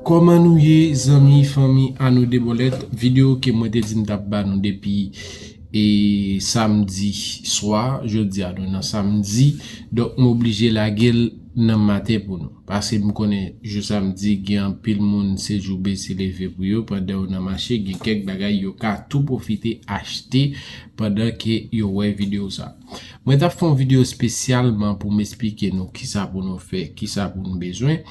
Koman nou ye zanmi fanmi Ano de Bolèt video ke mwen te di m tap ba nou depi e samdi swa jodi a nou nan samdi donk m oblije lage l nan maten pou nou paske m konnen jou samdi gen anpil moun se jou bese leve pou yo pandan yo nan mache gen kèk bagay yo ka tou pwofite achte pandan ke yo wè video sa mwen tap fè yon video spesyalman pou m esplike nou kisa pou nou fè kisa pou nou bezwen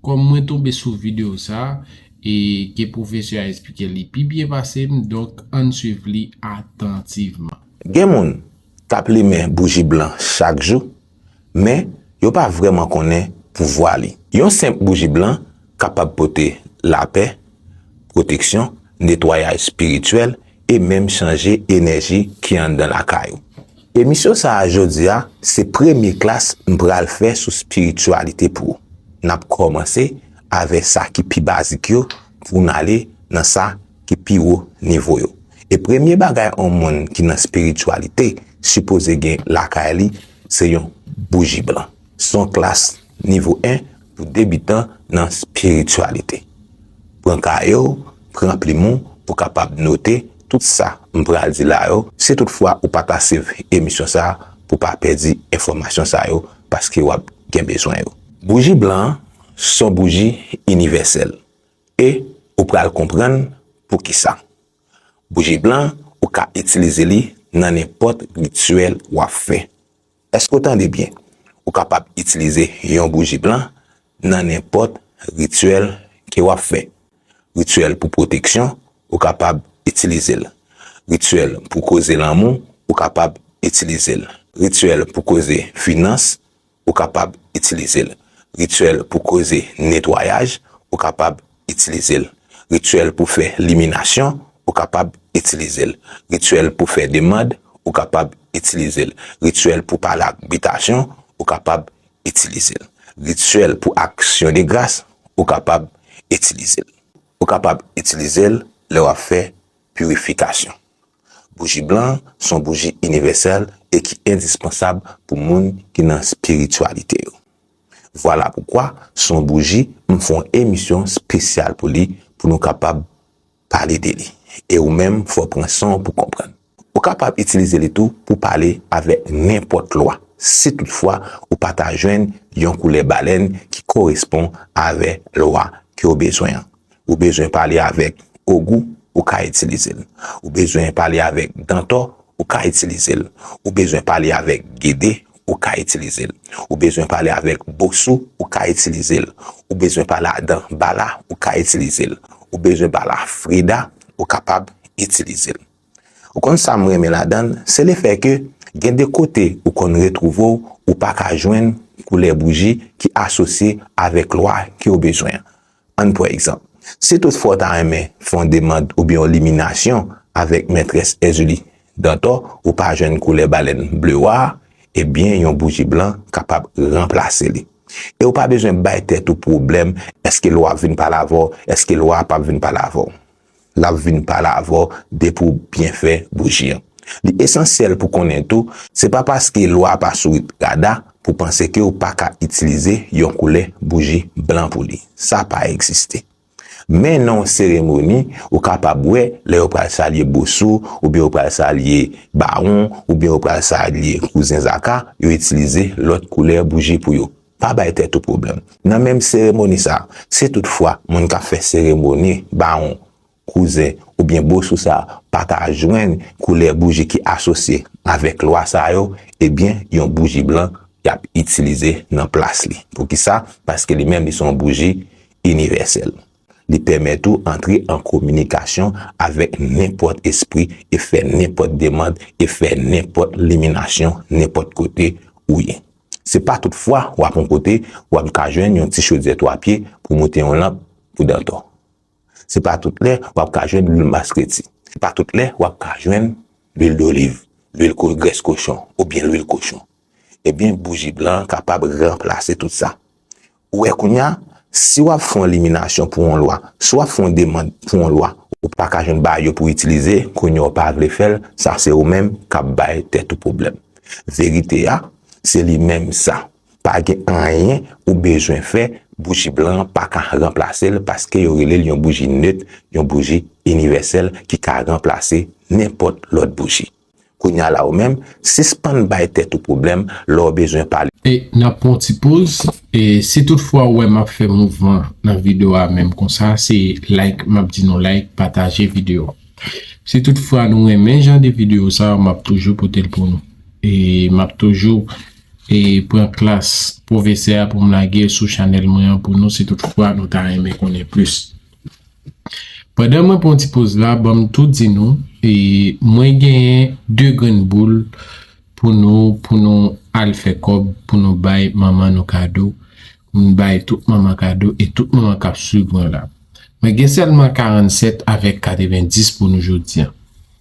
Kòm mwen tonbe sou video sa e ke pwofesè a esplike li pi byen pase m donk ann swiv li atantivman. Gen moun k ap limen bouji blan chak jou, men yo pa vrèman konnen pouvwa li. Yon senp bouji blan kapab pote lapè, pwoteksyon, netwayaj espirityèl e menm chanje enèji ki anndan lakay ou. Emisyon sa a jodi a se premye klas m pral fè sou spirityalite pou ou. N ap kòmanse avè sa ki pi bazik yo pou n ale nan sa ki pi wo nivo yo. E premye bagay on moun ki nan spirityalite sipoze gen lakay li se yon bouji blan. Son klas Nivo 1 pou debitan nan spirityalite. Pran kaye w, pran plim ou pou kapab note tout sa m pral di la yo, si tout fwa ou pa ka swiv emisyon sa pou pa pèdi enfòmasyon sa yo paske w ap gen bezwen yo. Bouji blan an son bouji inivèsèl e ou pral konprann poukisa. Bouji blan ou ka itilize li nan nenpòt rityèl w ap fè. Èske w tande byen? Ou kapab itilize yon bouji blan nan nenpòt rityèl ke w ap fè. Rityèl pou pwoteksyon, ou kapab itilize l. Rityèl pou koze lanmou, ou kapab itilize l. Rityèl pou koze finans, ou kapab itilize l. Rityèl pou koze netwayaj, ou kapab itilize l. Rityèl pou fè liminasyon, ou kapab itilize l. Rityèl pou fè demand, ou kapab itilize l. Rityèl pou pale ak bitasyon, ou kapab itilize l. Rityèl pou aksyon de gras, ou kapab itilize l. Ou kapab itilize l lè w ap fè pirifikasyon. Bouji blan s on bouji inivèsèl e ki endispansab pou moun ki nan espirityalite yo. Vwala poukwa, sou yon bouji, m fè yon emisyon spesyal pou li, pou nou kapab pale de li. E ou menm, fò w pran san w pou konprann. Ou kapab itilize li tou pou pale avèk nenpòt lwa, si tout fwa ou pa ta jwenn yon koulè balèn ki korespon avè lwa ke w bezwen an. Ou bezwen pale avèk Ogou, ou ka itilize l. Ou bezwen pale avèk Dantò, ou ka itilize l. Ou bezwen pale avèk Gede, ou ka itilize l. Ou bezwen pale avèk Bosou, ou ka itilize l. Ou bezwen pale a Danbala, ou ka itilize l. Ou bezwen pale a Freda, ou kapab itilize l. Ou konn sa m renmen ladan l, se le fè ke gen de kote ou konn retwouve w, ou pa ka jwenn koulè bouji ki asosye avèk lwa ke w bezwen an. Ann pran egzanp. Si tout fwa w ta renmen fè yon demand oubyen yon liminasyon avèk Mètrès Èzili Dantò ou pa jwenn koulè balèn ble wa a, ebyen yon bouji blan kapab ranplase li. E ou pa bezwen bay tèt ou pwoblèm èske lwa ap vin pale avè w, èske lwa a p ap vin pale avè w. Lap vin pale avè w depi w byen fè bouji an. Li esansyèl pou konnen tou, se pa paske lwa a pa sou rit rada pou panse ke w pa ka itilize yon koulè bouji blan pou li. Sa pa egziste. Men nan yon seremoni, ou kapab wè lè yo pral salye Bosou, oubyen yo pral salye Bawon, oubyen yo pral salye Kouzen Zaka, yo itilize lòt koulè bouji pou yo. Pa bay tèt ou pwoblèm. Nan menm seremoni sa, si tout fwa moun k ap fè seremoni bawon, kouzen, oubyen bosou sa pa ka jwenn koulè bouji ki asosye avèk lwa sa yo, ebyen yon bouji blan y ap itilize nan plas li. Poukisa? Paske li menm li se yon bouji inivèsèl. Li pèmèt ou antre an kominikasyon avèk nenpòt espri e fè nenpòt demand e fè nenpòt liminasyon nenpòt kote ou ye. Se pa tout fwa w ap yon kote w ap ka jwenn yon ti chodyè 3 pye pou moute yon lanp pou Dantò. Se pa tout lè w ap ka jwenn lwil maskreti. Se pa tout lè w ap ka jwenn lwil doliv, lwil grès kochon oubyen lwil kochon. Ebyen bouji blan an kapab ranplase tout sa. Ou wè kounya, si wap fè yon eliminasyon pou yon lwa, si wap fè yon demand pou yon lwa, ou pa ka jwenn bagay yo pou itilize, kounya ou pa vle fèl, sa se ou menm kap bay tèt ou pwoblèm. Verite a, se li menm sa. Pa gen anyen ou bezwen fè, bouji blan an pa ka ranplase l paske yo rele l yon bouji neut, yon bouji inivèsèl ki ka ranplase nenpòt lòt bouji. Kounya la ou menm, sispann bay tèt ou pwoblèm lè w bezwen pale. E n ap pran yon ti poz. E si tout fwa ou wè m ap fè mouvman nan video a menm konsa, se like m ap di nou like, pataje video a. Si tout fwa nou renmen jan de video sa yo, m ap toujou pote l pou nou. E m ap toujou e pran klas pwofesè a pou m lage l sou chanèl mwen an pou nou si tout fwa nou ta renmen konnen plis. Pandan mwen pran ti poz la banm tou di nou e mwen genyen 2 grenn boul pou nou pou nou al fè kòb pou nou bay manman nou kado pou nou bay tout manman kado e tout manman kap swiv mwen la mwen gen sèlman 47 avèk 90 pou nou jodi an.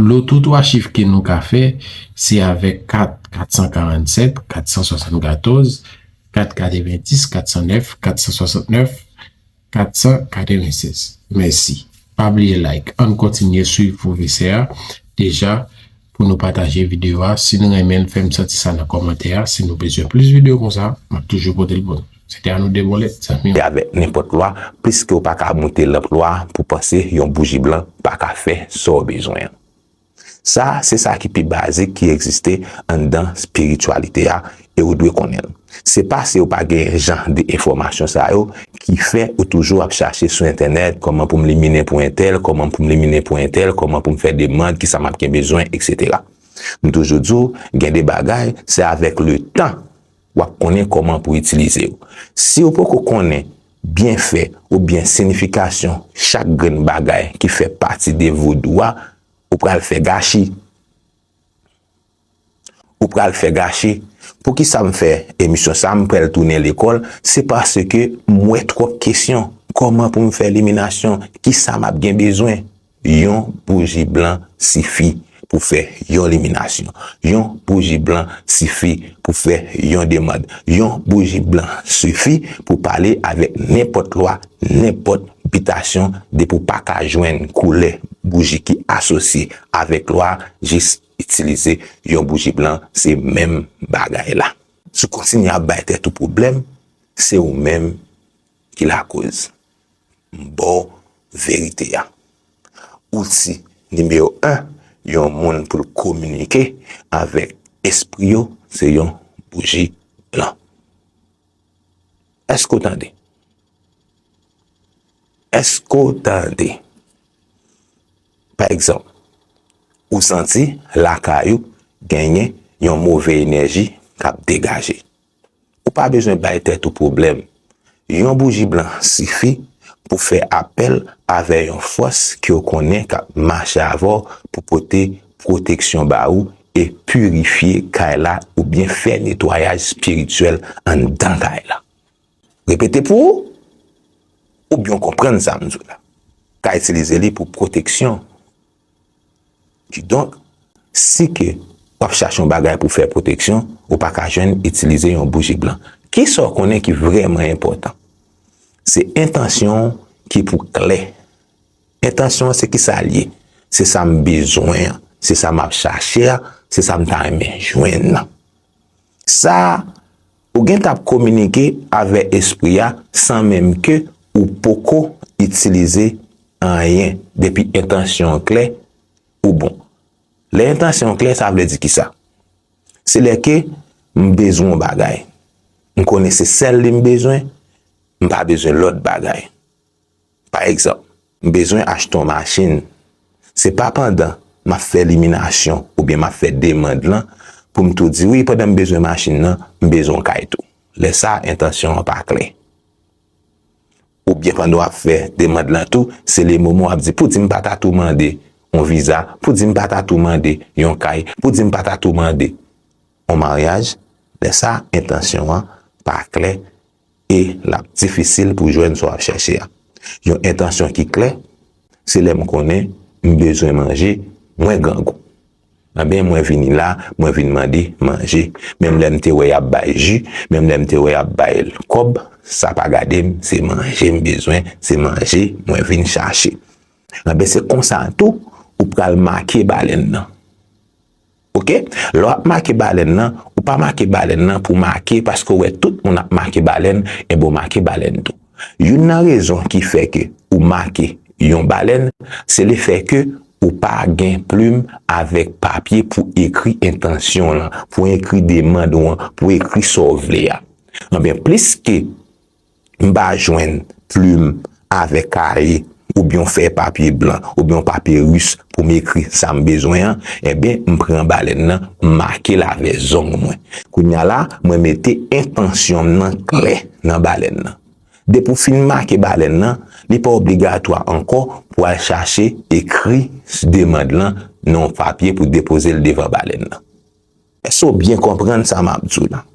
Lòt ou 3 chif ke nou ka fè, se avèk kat 447, 474, kat 90, 409, 469, 496. Mèsi. Pa bliye like. Ann kontinye swiv pwofesè a. Deja, pou nou pataje videyo a. Si nou renmen l, fè m santi sa nan kòmantè a. Si nou bezwen plis videyo konsa, m ap toujou pote l pou nou. Se te a nou 2 bòlèt zanmi yo. Avèk nenpòt lwa, pliske ou pa ka moute lanp lwa pou panse yon bouji blan pa ka fè sa w bezwen an. Sa a se sa ki pi bazik ki egziste anndan spirityalite a e ou dwe konnen l. Se pase ou pa genyen jan de enfòmasyon sa yo ki fè ou toujou ap chache sou entènèt kòman pou m liminen pou entèl, kòman pou m liminen pou entèl, kòman pou m fè demand, kisa m ap gen bezwen, eksetera. M toujou di w gen de bagay se avèk letan. wap konnen kòman pou itilize yo. Si ou poko konnen byenfè oubyen sinifikasyon chak grenn bagay ki fè pati de vodou a, ou pral fè gachi. Ou pral fè gachi. Poukisa m fè emisyon sa, m prèl tounen lekòl, se paske m wè twòp kesyon, kòman pou m fè eliminasyon, kisa map gen bezwen, Yon bouji blan sifi pou fè yon liminasyon. Yon bouji blan sifi pou fè yon demand. Yon bouji blan sifi pou pale avèk nenpòt lwa, nenpòt bitasyon depi w pa ka jwenn koulè bouji ki asosye avèk lwa jis itilize yon bouji blan se menm bagay la. Si w kontinye ap bay tèt ou pwoblèm, se ou menm ki lakoz. M ba w verite a. Outil nimewo 1 yon moun pou l kominike avèk espri yo se yon bouji blan. Èske w tande? Èske w tande? Pa egzanp, ou santi lakay ou genyen yon move enèji k ap degaje. Ou pa bezwen bay tèt ou pwoblèm. Yon bouji blan sifi pou fè apèl avè yon fòs ke w konnen k ap mache avè w pou pote pwoteksyon ba ou e pirifye kay la oubyen fè netwayaj spirityèl anndan kay la. Repete pou ou oubyen w konprann sa m di w la. Ka itilize li pou pwoteksyon Kidonk, si ke w ap chache yon bagay pou w fè pwoteksyon, ou pa ka jwenn itilize yon bouji blan. Kisa w konnen ki vrèman enpòtan? Se entansyon w ki pou klè. Entansyon an se kisa l ye? Se sa m bezwen an, se sa m ap chache a, se sa m ta renmen jwenn nan. Sa a, ou gen tan ap kominike avè espri a san menm ke ou poko itilize anyen, depi entansyon an klè, ou bon. Lè entansyon an klè sa vle di kisa? Se lè ke m bezwen yon bagay, m konnen se sèl li m bezwen, m pa bezwen lòt bagay. Pa egzanp, m bezwen achte yon machin, se pa pandan m ap fè liminasyon oubyen m ap fè demand lan pou m tou di wi pandan m bezwen machin nan, m bezwen yon kay tou. Lè sa a entansyon an pa klè. Oubyen pandan w ap fè demand lan tou, se le moman w ap di poudi m pa ta tou mande yon viza, poudi m pa ta tou mande yon kay, poudi m pa ta tou mande yon maryaj, lè sa a entansyon an pa klè. e l ap difisil pou jwenn sa w ap chèche a. Yon entansyon ki klè, Se lè m konnen m bezwen manje, mwen grangou. Anben, mwen vini la, mwen vin mande manje. Menm lè m te wè y ap bay ji, menm lè m te wè y ap bay kòb, sa pa gade m, se manje m bezwen, se manje mwen vin chache. Anben, se konsa tou ou pral make balèn nan. Ok lè wap make balèn nan ou pa make balèn nan pou make paske ou wè tout moun ap make balèn enben ou make balèn tou youn nan rezon ki fè ke ou make yon balèn se le fè ke ou pa gen plim avèk papye pou ekri entansyon lan pou ekri demand ou an pou ekri sa ou vle a anben plis ke M pa jwenn plim avèk kaye oubyen yon fèy papye blan oubyen yon papye ris pou m ekri sa m bezwen an, enben m pran balèn nan m make l avè zong mwen. Kounye a la, mwen mete entansyon m nan klè nan balèn nan. Depi w fin make balèn nan, li pa obligatwa ankò pou w al chache ekri demand lan nan yon papye pou depoze l devan balèn nan. Èske w byen konprann sa m ap di w la?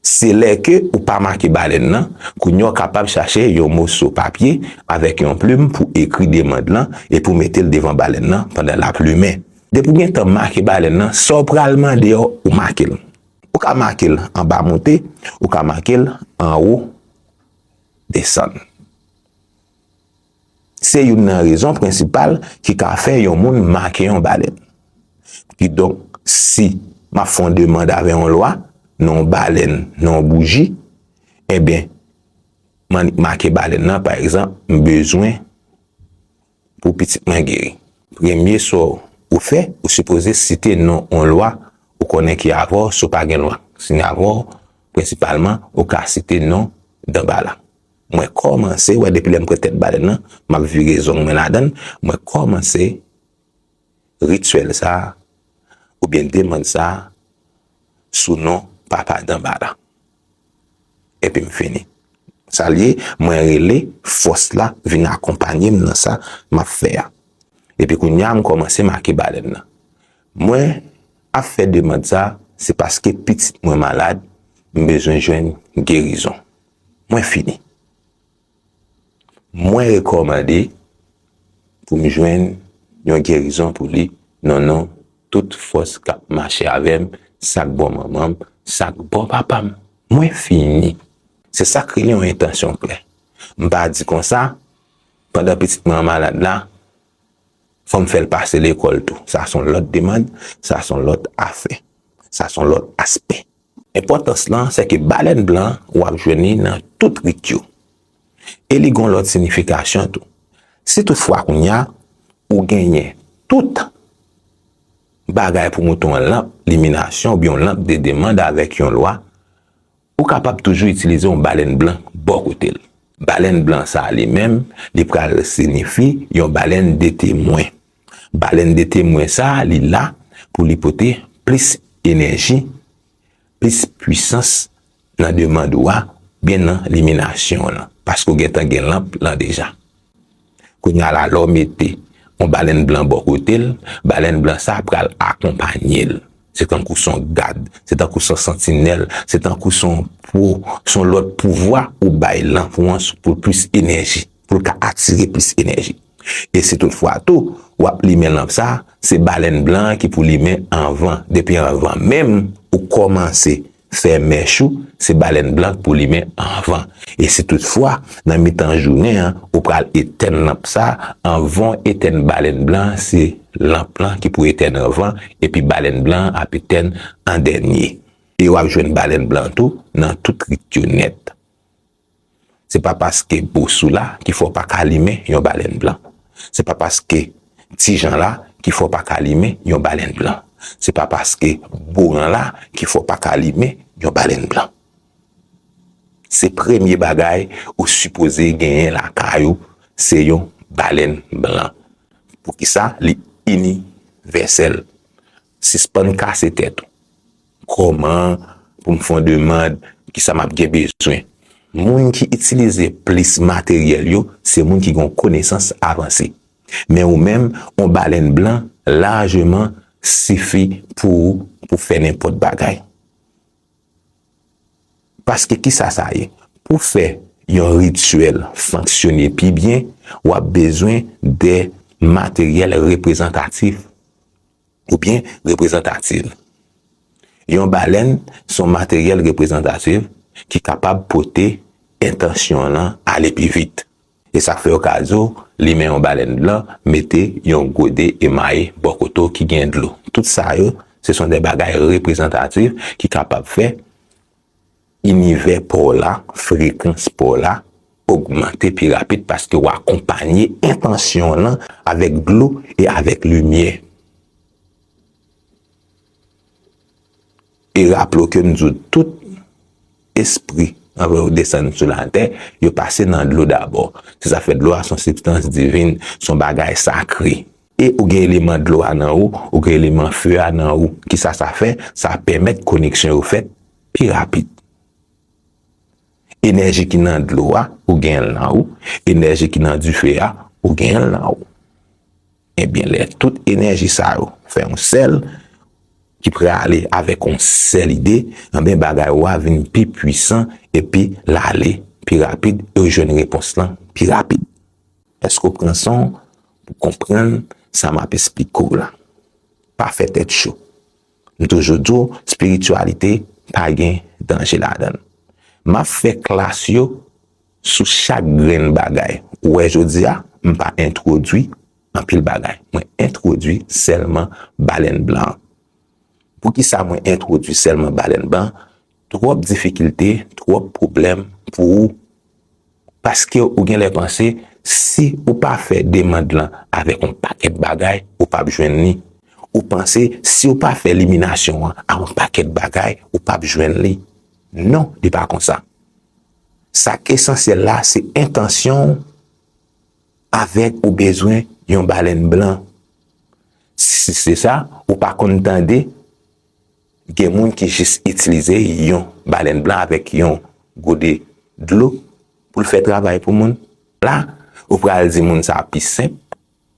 Se lè ke ou pa make balèn lan, kounye a w kapab chache yon moso papye avèk yon plim pou ekri demand lan e pou mete l devan balèn lan pandan l ap limen. Depi w gen tan make balèn lan, sa w pral mande a ou make l. Ou ka make l anba monte, ou ka make l anwo desann. Se youn nan rezon prensipal ki ka fè yon moun make yon balèn. Kidonk, si m ap fè yon demand avè yon lwa, nan yon balèn, nan yon bouji, enben, m annik make balèn nan, pa egzanp, m bezwen pou pitit mwen geri. Premye sa ou fè, ou sipoze site non yon lwa ou konnen ki avè w, si w pa gen lwa ki siyen avè w, prensipalman, ou ka site non Danbala. Mwen kòmanse wè depi lè m pre tèt balèn nan, m ap vire zong mwen ladan l, mwen kòmanse rityèl sa a oubyen demand sa a sou non Papa Danbala. Epi m fini. Sa l ye, mwen rele fòs la vin akonpanye m nan sa m ap fè a. Epi kounye a m kòmanse make balèn nan. Mwen ap fè demand sa a, se paske pitit mwen malad, m bezwen jwenn gerizon. Mwen fini. Mwen rekòmande pou m jwenn yon gerizon pou li nan non tout fòs k ap mache avè m, sa k bò manman m, sa k bò papa m. Mwen fini. Se sa k rele yon entansyon klè. M pa di konsa, pandan pitit mwen an malad la, fò m fè l pase lekòl tou. Sa s on lòt demand, sa s on lòt afè, sa s on lòt aspè. Enpòtans lan se ke balèn blan w ap jwenn li nan tout rit yo. E li gon lòt sinifikasyon tou. Si tout fwa kounya ou genyen tout bagay pou moute yon lanp liminasyon oubyen yon lanp de demand avèk yon lwa, ou kapab toujou itilize yon balèn blan bò kote l. Balèn blan sa li menm li pral sinifi yon balèn de temwen. Balèn de temwen sa li la pou li pote plis enèji, plis pwisans nan demand ou a byen nan liminasyon w lan, paske w gentan gen lanp lan deja. Kounye a la lè w mete yon balèn blan bò kote l, balèn blan sa pral akonpanye l. Se tankou son gad, se tankou son santinèl, se tankou son pou son lòt pouvwa ou bay lanp ou an pou l plis enèji. pou l ka atire plis enèji. E si tout fwa tou w ap limen lanp sa, se balèn blan an ki pou limen anvan. Depi anvan menm ou kòmanse fè mèch ou, se balèn blan k pou limen anvan. E si tout fwa nan mitan jounen an ou pral etèn lanp sa, anvan w etèn balèn blan an se lanp lan ki pou etèn anvan, epi balèn blan an ap etèn an dènye. E w ap jwenn balèn blan tou nan tout rit yo nèt. Se pa paske Bosou la ki fè w pa ka limen yon balèn blan. Se pa paske Ti Jan la ki fè w pa ka limen yon balèn blan. Se pa paske Boran la ki fè w pa ka limen yon balèn blan. Se premye bagay ou sipoze genyen lakay ou se yon balèn blan. Poukisa li inivèsèl? Sispann kase tèt ou. Kòman pou m fè yon demand? Kisa m ap gen bezwen? Moun ki itilize plis materyèl yo se moun ki gen yon konesans avanse. Men ou menm, yon balèn blan lajeman sifi pou ou pou fè nenpòt bagay. Paske kisa sa ye? Pou fè yon rityèl fonksyone pi byen, w ap bezwen de materyèl reprezantatif. oubyen reprezantativ. Yon balèn se yon materyèl reprezantativ ki kapab pote entansyon l lan ale pi vit. E sa k fè yo ka di w limen yon balèn blan mete yon gode emaye bò kote w ki gen dlo. Tout sa yo se son de bagay reprezantativ ki kapab fè. Inivè pa w la, frekans pa w la, ogmante pi rapid paske w akonpanye entansyon w lan avèk dlo e avèk limyè. E raple w ke m di w tout espri anvan yo desann sou latè, yo pase nan dlo dabò. Se sa k fè dlo a se yon sibstans divin, se yon bagay sakre. E ou gen eleman dlo a nan ou, ou gen eleman few a nan ou. Kisa sa fè? Sa pèmèt koneksyon yo fèt. pi rapid. Enèji ki nan dlo a, ou gen l nan ou, enèji ki nan dife a, ou gen l nan ou. Ebyen lè tout enèji sa yo fè yon sèl, ki prale avèk yon sèl ide, anben bagay ou a vin pi pwisan epi l ale pi rapid e ou jwenn repons lan pi rapid. Èske ou pran san w pou w konprann sa m ap esplike w la? Pa fè tèt cho. M toujou di w spirityalite pa gen danje ladan l. M ap fè klas yo sou chak grenn bagay ou wè jodi a, m pa entwodui anpil bagay. Mwen entwodui sèlman balèn blan an. Poukisa mwen entwodui sèlman balèn blan an? Twòp difikilte, twòp pwoblèm pou ou paske ou gen lè panse si ou pa fè demand lan avèk yon pakèt bagay ou pap jwenn li, ou panse si ou pa fè liminasyon an a yon pakèt bagay ou pap jwenn li. Non, li pa konsa. Sak esansyèl la se entansyon w avèk ou bezwen yon balèn blan. Si se sa, ou pa konn tande Gen moun ki jis itilize yon balèn blan avèk yon gode dlo pou l fè travay pou moun. La, ou pral di moun sa pi senp,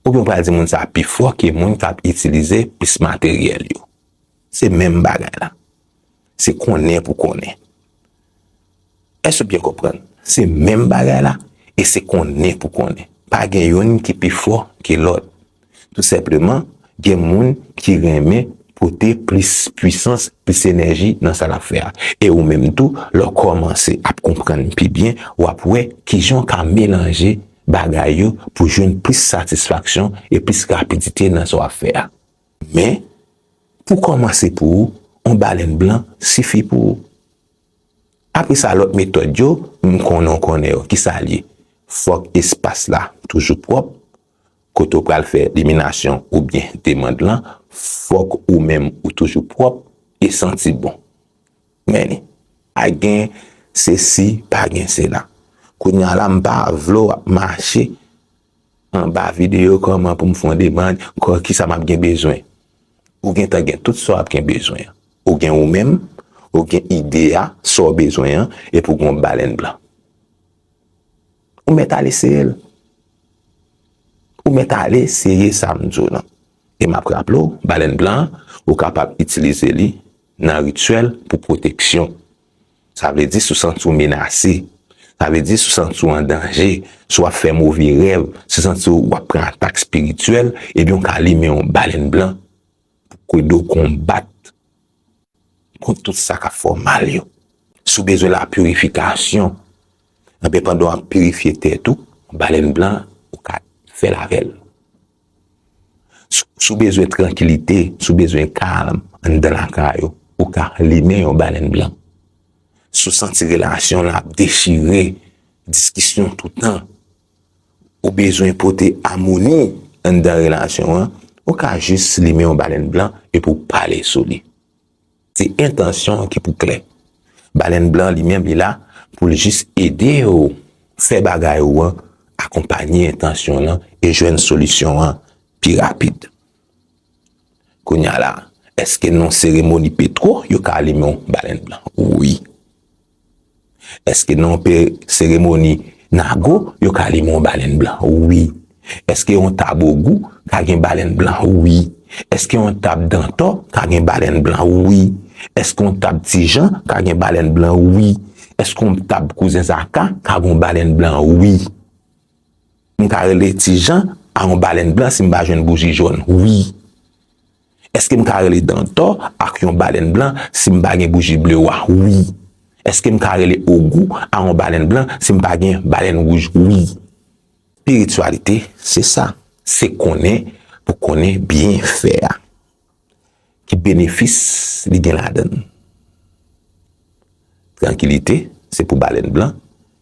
oubyen ou pral di moun sa pi fò ke moun k ap itilize plis materyèl yo. Se menm bagay la. Se konnen pou konnen. Èske ou byen konprann? Se menm bagay la, e se konnen pou konnen. Pa gen youn ki pi fò ke lòt. Tou senpleman, gen moun ki renmen pote plis pwisans, plis enèji nan sa l ap fè a. E ou menm tou, lè w kòmanse ap konprann pi byen, w ap wè ki jan w ka melanje bagay yo pou jwenn plis satisfaksyon e plis rapidite nan sa w ap fè a. Men, pou kòmanse pou ou, yon balèn blan sifi pou ou. Apre sa, lòt metòd yo, m konnen w konnen yo, ki sa l ye? Fòk espas la toujou pwòp, kote w pral fè liminasyon oubyen demand lan, fòk ou menm ou toujou pwòp e santi bon. Men, pa gen sesi, pa gen sela. Kounye a la, m pa vle w ap mache Anba videyo Kòman pou m fè yon demand, kò ki sa m ap gen bezwen? Ou gentan gen tout sa w ap gen bezwen an. Ou gen ou menm, ou gen ide a, sa w bezwen an, epi ou gen yon balèn blan. Ou mèt al eseye l. Ou mèt al eseye sa m di w lan. E m ap raple w, balèn blan an, ou kapab itilize li nan rityèl pou pwoteksyon. Sa vle di si w santi w menase, sa vle di si w santi w an danje, si w ap fè move rèv, si w santi w ap pran atak espirityèl, ebyen w ka limen yon balèn blan pou k ede w konbat kont tout sa k ap fè w mal yo. Si w bezwen lapirifikasyon, ebyen pandan w ap pirifye tèt ou, balèn blan ou ka fè l avè l. Si w bezwen trankilite, si w bezwen kalm anndan lakay ou, ou ka limen yon balèn blan. Si w santi relasyon lan ap dechire, diskisyon toutan, ou bezwen pote amoni anndan relasyon an, ou ka jis limen yon balèn blan epi w pale sou li. Se entansyon an ki pou klè. Balèn blan an li menm li la pou l jis ede w fè bagay ou an akonpanye entansyon w lan e jwenn solisyon an pi rapid. Kounya la, èske nan seremoni Petro yo ka alimen yon balèn blan? Wi. Eske nan yon seremoni nago yo ka limen yon balèn blan? Wi. Eske yon tab ogou ka gen balèn blan? Wi. Eske yon tab dantò ka gen balèn blan? Wi. Eske yon tab tijan ka gen balèn blan? Wi. Eske yon tab kouzen zaka ka gen yon balèn blan? Wi. M ka rele tijan a yon balèn blan si m pa jwenn bouji jòn? Wi. Eske m ka rele Dantò ak yon balèn blan si m pa gen bouji ble wa? Wi. Eske m ka rele Ogou a yon balèn blan si m pa gen balèn wouj? Wi. Spirityalite se sa. Se konnen pou konnen byenfè a. Ki benefis li gen ladan l. Trankilite se pou balèn blan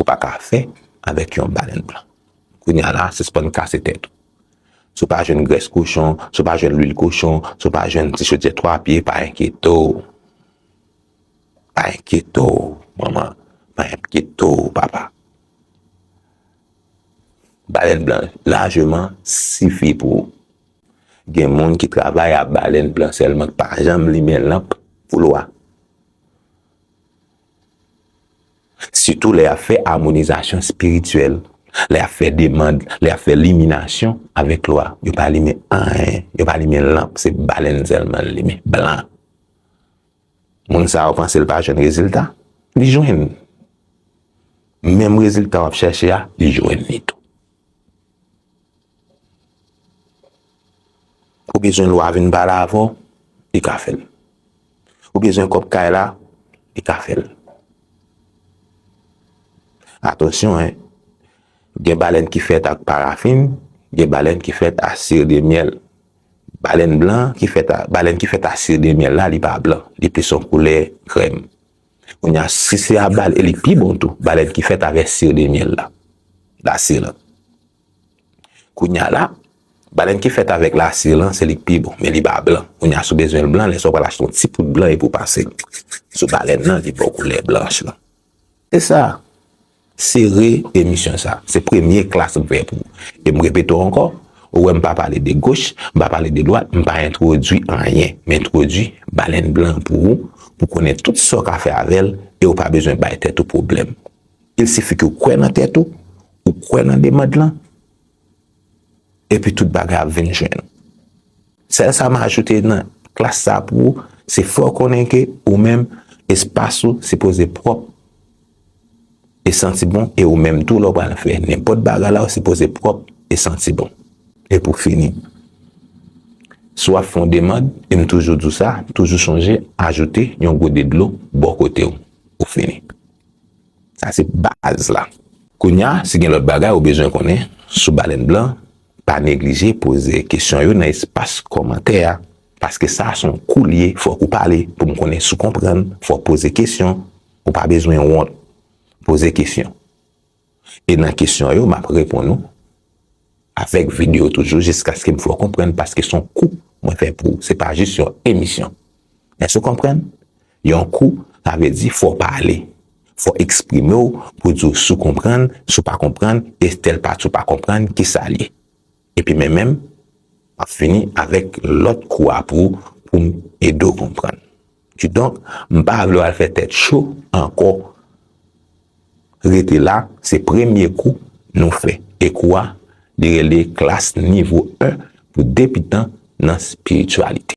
Ou pa ka fè avèk yon balèn blan. Kounye a la, sispann kase tèt ou. Si w pa jwenn grès kochon, si w pa jwenn lwil kochon, si w pa jwenn ti chodyè twa pye, pa enkyete w. Pa enkyete w, manman. Pa enkyete w, papa. Balèn blan lajeman sifi pou ou. Gen moun ki travay ak balèn blan sèlman, ki pa janm limen lanp pou lwa. Sitou lè y ap fè amonizasyon espirityèl, lè y ap fè demand, lè y ap fè liminasyon avèk lwa, yo pa limen anyen, yo pa limen lanp, se balèn sèlman l limen, blan. Moun sa a ou panse l pa jwenn rezilta? Li jwenn. Menm rezilta w ap chèche a, li jwenn li tou. Ou bezwen lwa vin pale avè w, li ka fè l. Ou bezwen kòb kay la, li ka fè l. Atansyon hein, gen balèn ki fèt ak parafin, gen balèn ki fèt a sire de myèl. Balèn blan ki fèt a, balèn ki fèt a sire de myèl la, li pa blan, li plis yon koulè krèm. Kounya si se a bal, e li pi bon tou, balèn ki fèt avè sire de myèl la, la sire. Kounya la, balèn ki fèt avèk lasir lan, se li k pi bon, men li pa blan. Kounya si w bezwen l blan, lè sa w pral achte yon ti poud blan epi w pase l sou balèn lan, li ba w koulè blanch lan. Se sa, sere emisyon sa. Se premye klas m fè pou ou. E m repete w ankò, ou wè m pa pale de goch, m pa pale de dwat, m pa entwodui anyen. M entwodui balèn blan an pou ou, pou w konnen tout sa w ka fè avè l e w pa bezwen bay tèt ou pwoblèm. Il sifi ke w kwè nan tèt ou, ou kwè nan demand lan, epi tout bagay ap vin jwenn ou. Sèl sa m ajoute nan klas sa pou ou, se fè w konnen ke ou menm, espas ou sipoze pwòp e santi bon, e ou menm tou lè w pral fè nenpòt bagay la, ou sipoze pwòp e santi bon. E pou fini, si w ap fè yon demand, e m toujou di w sa, toujou chonje ajoute yon gode dlo bò kote w, ou fini. Sa se baz la. Kounya si gen lòt bagay ou bezwen konnen sou balèn blan pa neglije poze kesyon yo nan espas kòmantè a paske sa a son kou li ye fòk ou pale pou m konnen si w konprann fòk poze kesyon ou pa bezwen wont poze kesyon e nan kesyon yo map reponn ou avèk video toujou jiskaske m fè w konprann paske son kou mwen fè pou ou se pa jis yon emisyon. Èske ou konprann? Yon kou, sa vle di fò w pale, fò w eksprime w pou di w si w konprann, si w pa konprann, e tèl pati w pa konprann ki sa l ye. Epi men menm, m ap fini avèk lòt kou a pou pou m ede w konprann. Kidonk, m pa vle w al fè tèt cho ankò. Rete la, se premye kou nou fè. E kou a, li rele klas nivo 1 pou debitan nan espirityalite.